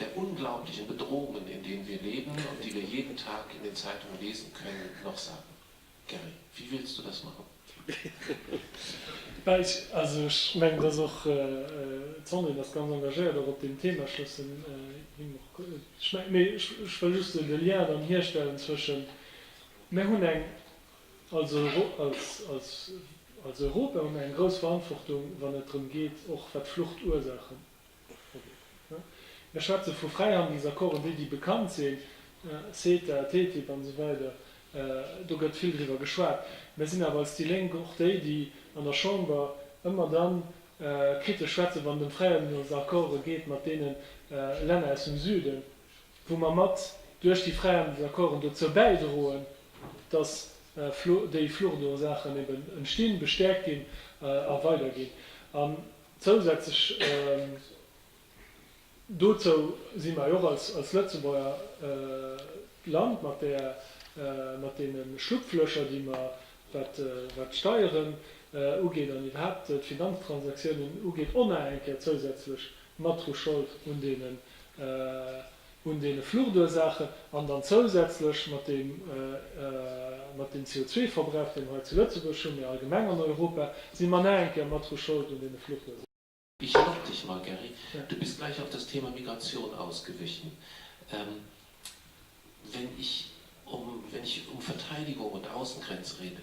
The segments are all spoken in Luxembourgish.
der unglaublichen Bedrohungen, in denen wir leben und die wir jeden Tag in den Zeitungen lesen können, noch sagen? Gary, wie willst du das machen? Bah, ech, also ech mengen, dass och d'Sandrine ass ganz engagéiert och op deem Thema. Ech loossen him och schmä, mee ech, ech wëll just esou de Lien dann hierstellen zwëschen, mir hunn eng, als Euro, als, als, als Europa hu mir eng grouss Verantwortung, wann et drëm geet, och wat d'Fluchtursachen Mir schwätze vu Fräihandelsaccorden, déi, déi bekannt sinn, CETA, TTIP an esou weider, do gëtt vill driwwer geschwat. Mir sinn awer als déi Lénk och déi, déi an der Chamber ëmmer dann kritesch schwätzen, wann et ëm Fräihandelsaccorde geet mat deene Länner aus dem Süden, wou mer mat duerch déi Fräihandelsaccorden dozou bäidroen, dass déi Fluchtursaachen eben entstinn, bestäerkt ginn a weiderginn. Zousätzlech dozou si mer jo och als Lëtzebuerger d'Land mat där, mat deene Schlupflöcher, déi mer, wat d'Steieren ugeet an iwwerhaapt d'Finanztransaktiounen ugeet, onaenker zousätzlech matru Schold un deene un deene Fluchtursaachen an dann zousätzlech mat deem, mat deem CO2-Verbrauch, deen mer hei zu Lëtzebuerg hunn, mee allgemeng an Europa, si mer nach eng Kéier mat dru Schold un deene Fluchtursaachen. Ich lob dich mal, Gary. Du bist gleich auf das Thema Migration ausgewichen. Wenn ich um, wenn ich um Verteidigung und Außengrenze rede,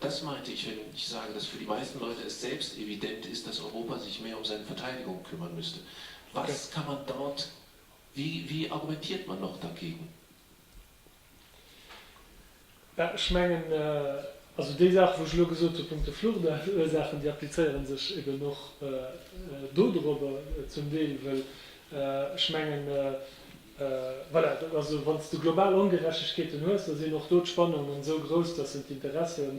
Das meinte ich, wenn ich sage, dass für die meisten Leute es selbst evident ist, dass Europa sich mehr um seine Verteidigung kümmern müsste. Was kann man dort, wie, wie argumentiert man noch dagegen? Bah, ech mengen, also déi Saachen, wou ech elo gesot hunn punkto Fluchtursachen, déi applizéieren sech eben och do dorobber zum Deel, well ech mengen, Voilà, dat ass, wann s de global Ongerechtegkeeten hues, da sinn och do d'Spannungen esou grouss, dass se d'Interesse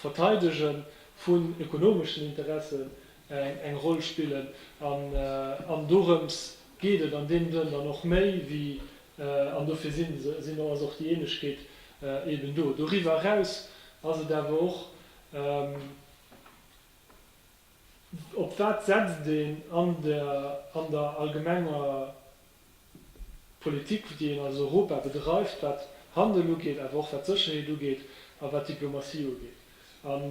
verteidege vun ökonomeschen Interessen eng Roll spillen. An dorëms geet et an deem Sënn dann och méi wéi, an dofir ass och déi Änlechkeet eben do. Doriwwer eraus ass et awer och, Op wat setzt een an der an der allgemenger Politik, déi een als Europa bedreift, wat Handel ugeet, awer och wat Sécherheet ugeet a wat Diplomatie ugeet? An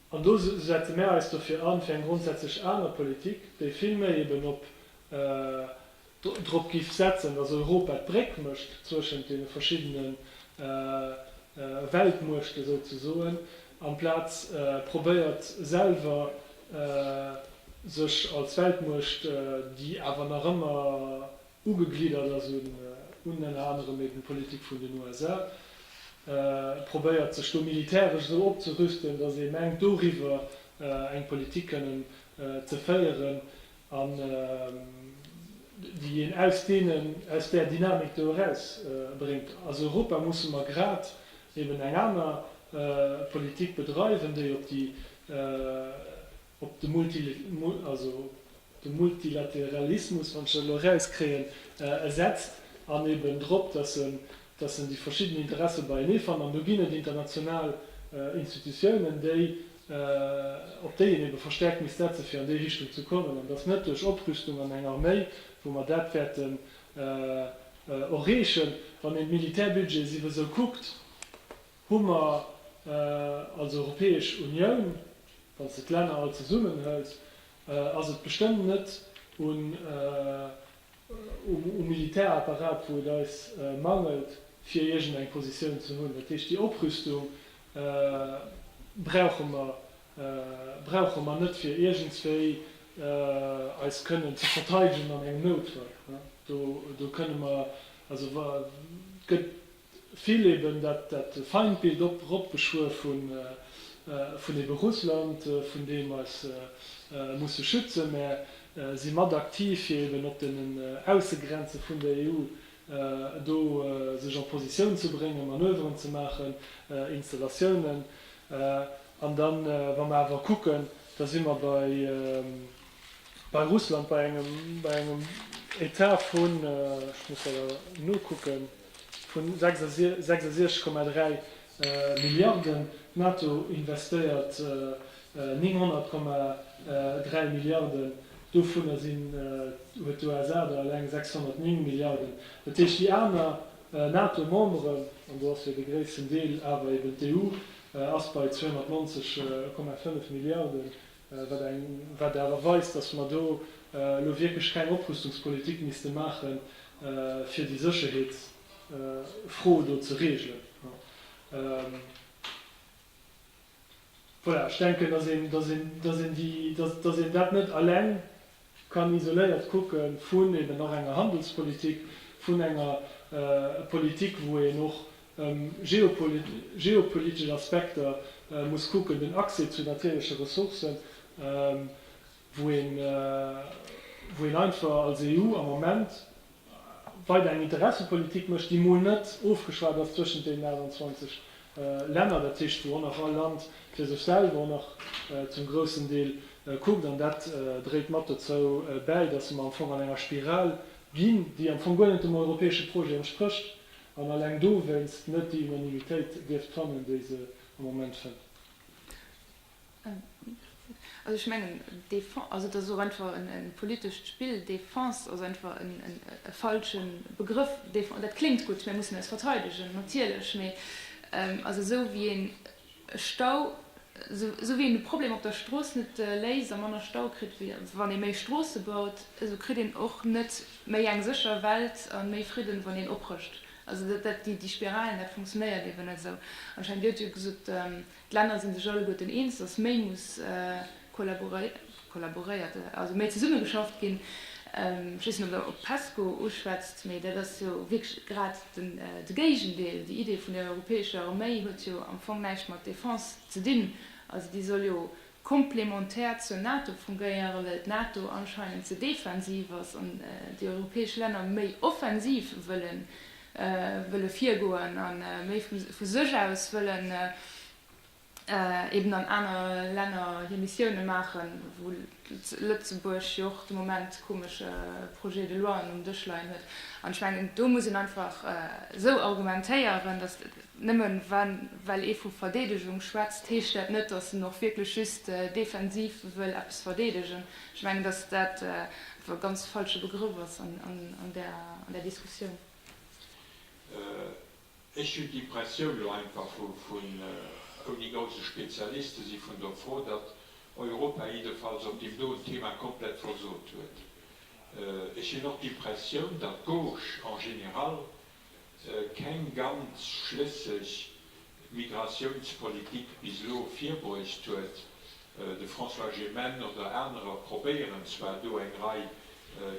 an do setze mär eis dofir an, fir eng grondsätzlech aner Politik, déi vill méi eben op drop giff setzen, dass Europa d'Bréck mécht zwëschent deene verschiddene Weltmuechte souzesoen, amplaz probéiert selwer sech als Weltmuecht, déi awer nach ëmmer ugegliddert ass un ënner anerem eben d'Politik vun den USA, probéiert sech do militäresch esou opzerüsten, dass ee mengt doriwwer eng Politik kënnen ze féieren, an déi een aus deenen, aus där Dynamik do eraus bréngt. Als Europa musse mer grad eben eng aner Politik bedreiwen, déi op déi, op de multi, also op de Multilateralismus, wann ech dat elo erauskréien, setzt an eben drop, datt e dass en déi verschidden Interesse beienee fannt, an do ginn et international Institutiounen, déi, op déi een ebe verstärkt misst setzen, fir an déi Richtung ze kommen, an dass net duerch Oprüstung an eng Arméi, wou mer dat wäerten och reechen, wann een d'Militärbudgete siwwe sou kuckt, hu mer als Europäesch Unioun, wann s de d'Länner all zesummenhëls, ass et bestëmmt net un um Militärapparat, wou et eis mangelt, fir iergend eng Positioun ze hunn. Dat heescht, déi Oprüstung brauche mer, brauche mer net, fir iergendswéi eis kënnen ze verteidegen an engem Noutfall. Do kënne mer, also gëtt. Vill eben dat Feindbild op ropgeschwuer vun eben Russland, vun deem eis musse schützen, mä si mat aktiv fir eben op deenen Aussegrenze vun der EU do sech en Positioun ze bréngen, Manöveren ze maachen, Installatiounen. An dann, wa mer awer kucken, da si mer bei Russland bei engem Etat vun, ech muss leider nokucken, vun 66,3 Milliarden, d'NATO investéiert 900,3 Milliarden, dovunner sinn, huet d'USA der eleng 609 Milliarden. Dat heescht, déi aner NATO-Memberen, an do ass jo de gréissten Deel awer eben d'EU, ass bei 290,5 Milliarden. wat awer weist, dass mer do elo wierklech keng Oprüstungspolitik misste maachen, fir déi Sécherheetsfro do ze regelen. Voilà, ech denken, dass een dat net eleng kann isoléiert kucke vun eben och enger Handelspolitik, vun enger Politik, wou een och geopolitesch Aspekter muss kucken, den Accès zu natierleche Ressourcen, wou een einfach als EU am Moment, weider eng Interessepolitik mécht, déi mol net ofgeschwat ass zwëschent deenen 28 Länner, dat heescht wou och nach all Land fir sech selwer och nach zum groussen Deel kuckt. An dat dréit mat dozou bäi, datt mer am Fong an enger Spiral ginn, déi am Fong guer net dem europäesche Projet entsprécht an alleng dowéinst net déi Unanimitéit dierft fannen, déi se am Moment fënnt. Also ech mengen, dee Fonds, also dat ass och einfach e politescht Spill. Dee Fonds ass einfach e falsche Begrëff. Dee Fonds, dat kléngt gutt, mir mussen eis verteidegen, natierlech, mee also esou wéi een e Stau, esou wéi een de Problem op der Strooss net léist a manner Stau kritt, wann ee méi Stroosse baut, esou kritt een och net méi eng sécher Welt a méi Fridden, wann een oprëscht. Also dat, déi Spiralen, dat funktionéiert eben net esou. Anscheinend, Dir hutt jo gesot, D'Länner si sech alleguerten eens, datt méi muss kollaboréiert, also méi zesummegeschafft ginn. Ech weess net, ob d'Pesco uschwätzt, mee dat ass jo wierklech grad de Géigendeel. Déi Idee vun der europäescher Arméi huet jo am Fong näischt mat Defense ze dinn, also déi soll jo Komplementär zur NATO fungéiere well d'NATO anscheinend ze defensiv ass an déi europäesch Länner méi offensiv wëllen wëlle virgoen a méi vu sech aus wëllen eben an aner Länner hir Missioune maachen, wou Lëtzebuerg jo och de Moment komesche Projet de loien um Dësch leien huet. An ech mengen do muss een einfach esou argumentéieren, datt. Nëmmen well ee vu Verdeedegung schwätzt, heescht dat net, datt en och wierklech just defensiv wëll eppes verdeedegen. Ech mengen, datt dat einfach e ganz falsche Begrëff ass an där Diskussioun. Ech hunn d'Impressioun, elo einfach vun ouni grouse Spezialist ze si vun der Fro, datt Europa jiddefalls op deem doen Thema komplett versot huet. Ech hunn och d'Impressioun, datt d'Gauche en général, keng ganz schlësseg Migratiounspolitik bis elo virbruecht huet. De François Gemenne oder anerer probéieren zwar do eng Rei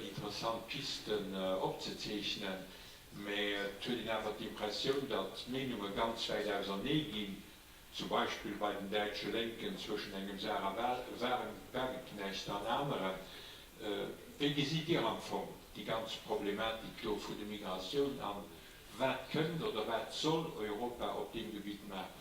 interessant Pisten opzezeechnen, mä et huet een awer d'Impressioun, datt d'Meenunge ganz wäit ausernee ginn, zum Beispill bei den däitsche Lénken zwëschen engem Sarah Wagenknecht an aneren. Wéi gesitt Dir am Fong déi ganz Problematik do vun de Migratioun an wat kënnt oder wat soll Europa op deem Gebitt maachen?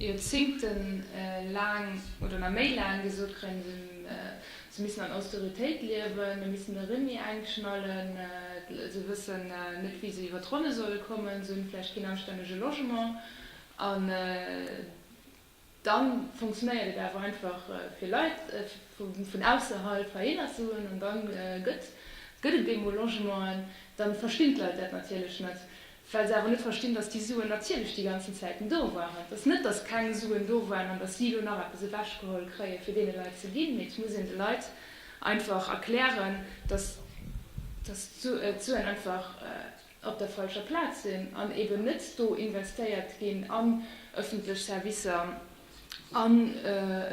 Joerzingte laang oder nach méi laang gesot kréien, se missten an Austeritéit liewen, mir missten de Remis engknallen, se wëssen net wéi se iwwer d'Ronne solle kommen, se hunn vläicht keen anstännege Logement. An da funktionéiert et awer einfach fir Leit vun ausserhalb heihinner ze hunn an da gëtt et deemol Logementen. Da verstinn d'Leit dat natierlech net. Well se awer net verstinn, dass déi Suen natierlech déi ganzen Zäiten do waren. Et ass net, dass keng Suen do waren an dass si elo nach eppes ewechgeholl kréien, fir deene Leit ze ginn, mee et muss een de Leit einfach erklären, dass d'Suen einfach op der falscher Plaz sinn an eeben net do investéiert ginn an öffentlech Servicer, a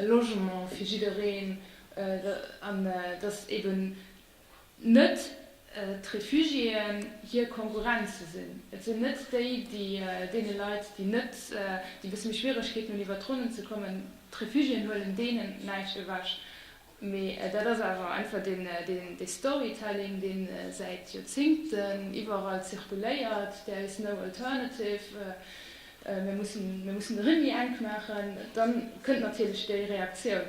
Logement fir jiddereen, an dass eeben. net d'Refugiéen hir Konkurrenz ze sinn, et sinn net déi, déi deene Leit, déi net, déi e bësse méi Schwieregkeeten hunn iwwert d'Ronnen ze kommen, d'Refugiéen huelen deenen näischt ewech. Mee dat ass awer einfach dee Storytelling, dee säit Joerzingten iwwerall zirkuléiert, there is no alternative, mir mussen de Rinn méi enk maachen, da kënnt natierlech déi Reaktioun.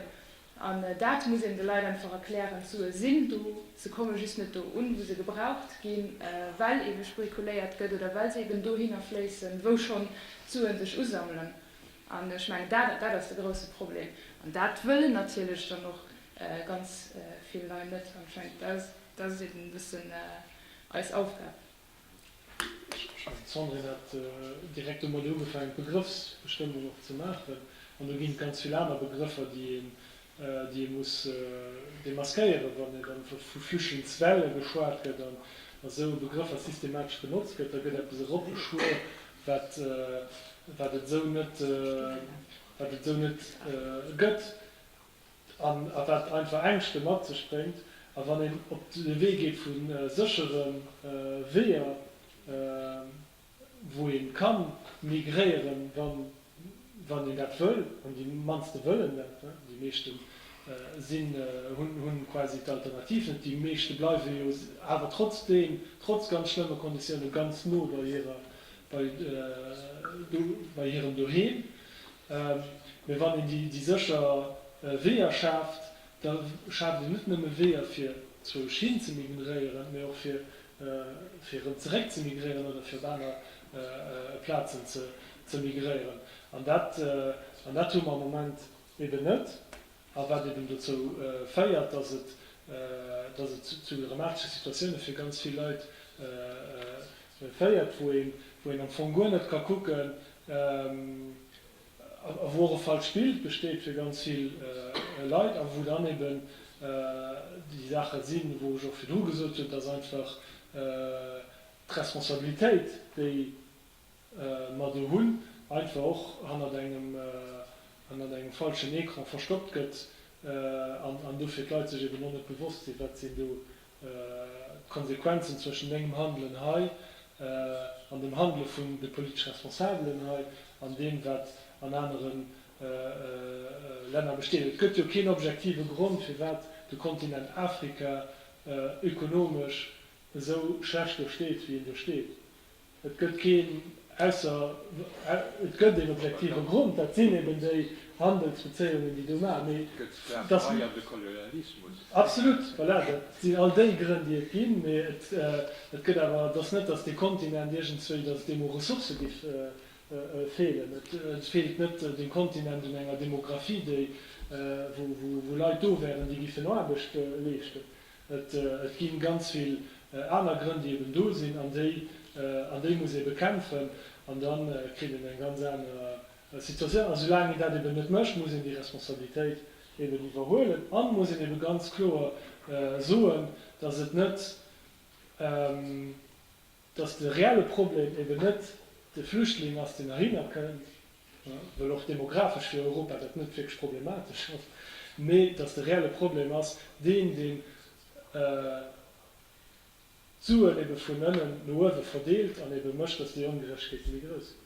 An dat muss een de Leit einfach erklären, d'Sue sinn do, se komme just net do un, wou se gebraucht ginn, well ebe spekuléiert gëtt oder well se eben dohinner fléissen, wou schonn d'Suen sech usammelen. An ech mengen, dat, dat ass de grouse Problem. An dat wëllen natierlech dann och ganz vill Lei net. An ech mengen, dat ass eben e bëssen eis Aufgab. D'Sandrine hat direkt domat ugefaangen, d'Begrëffsbestëmmung och ze maachen. An do ginn et ganz vill aner Begrëffer, déi een, déi ee muss demaskéieren, wann et am vu Flüchtlingswelle geschwat gëtt an esou e Begrëffer systematesch benotzt gëtt. Da gëtt eppes eropgeschwuer, wat, wat et esou net, wat et esou net gëtt. an a wat einfach Ängschte mat sech bréngt. A wann een op de Wee geet vu séchere Weeër, wou ee ka migréieren, wann een dat wëll, an déi mannste wëllen dat, déi meeschte sinn, hu quasi d'Alternativ net, déi meeschte bleiwe jo awer trotzdeem, trotz ganz schlëmme Konditioune ganz no bei hirem Doheem, Mee wann een déi sécher Weeër schaaft, da schaaft een net nëmme Weeër fir zwou Esch hin ze migréieren, mee och fir erëm zeréck ze migréieren oder fir op aner Plazen ze migréieren. An dat hu mer am Moment eben net. a wat eben dozou féiert, dass et dass et zu dramatesche Situatioune fir ganz vill Leit féiert, wou een wou een am Fong guer net ka kucken a wou och e falscht Bild besteet fir ganz vill Leit a wou dann eben déi Saache sinn, wou ech och virdru gesot hunn, dass einfach d'Responsabilitéit, déi. ma do hunn, einfach och hannert engem hannert engem falschen Ecran verstoppt gëtt an an dofir d'Leit sech eben och net bewosst sinn, wat sinn do d'Konsequenzen zwëschen mengem Handelen hei an dem Handele vun de politesch Responsabelen hei an deem, wat an anere Länner besteet. Et gëtt jo keen objektive Grond, firwat de Kontinent Afrika ökonomesch esou schlecht do steet, wéi en do steet. Et gëtt keen, ausser et gëtt een objektive Grond, dat sinn eben déi Handelsbezéiungen, déi do maachen, mee dass mir. Absolut, voilà, dat sinn all déi Grënn, déi et ginn, mee et gëtt awer, et ass net, dass dee Kontinent iergendzwéi, dass et deem u Ressourcë giff feelen. Et feelt net dem Kontinent un enger Demographie, déi, wou Leit do wären, déi giffen Aarbecht leeschten. Et ginn ganz vill aner Grënn, déi eben do sinn an déi an déi muss ee bekämpfen. An da kritt een eng ganz aner Situatioun. A soulaang een dat eben net mécht, muss een déi Responsabilitéit eben iwwerhuelen a muss een ebe ganz kloer soen, datt et net, dass de reelle Problem eben net de Flüchtling ass, deen heihinner kënnt, well och demografesch fir Europa dat net wierklech problematesch ass, mee dass de reelle Problem ass deen, deen d'Suen ebe vun ënnen no uewe verdeelt an ebe mécht, dass déi Ongerechtegkeete méi grouss ginn.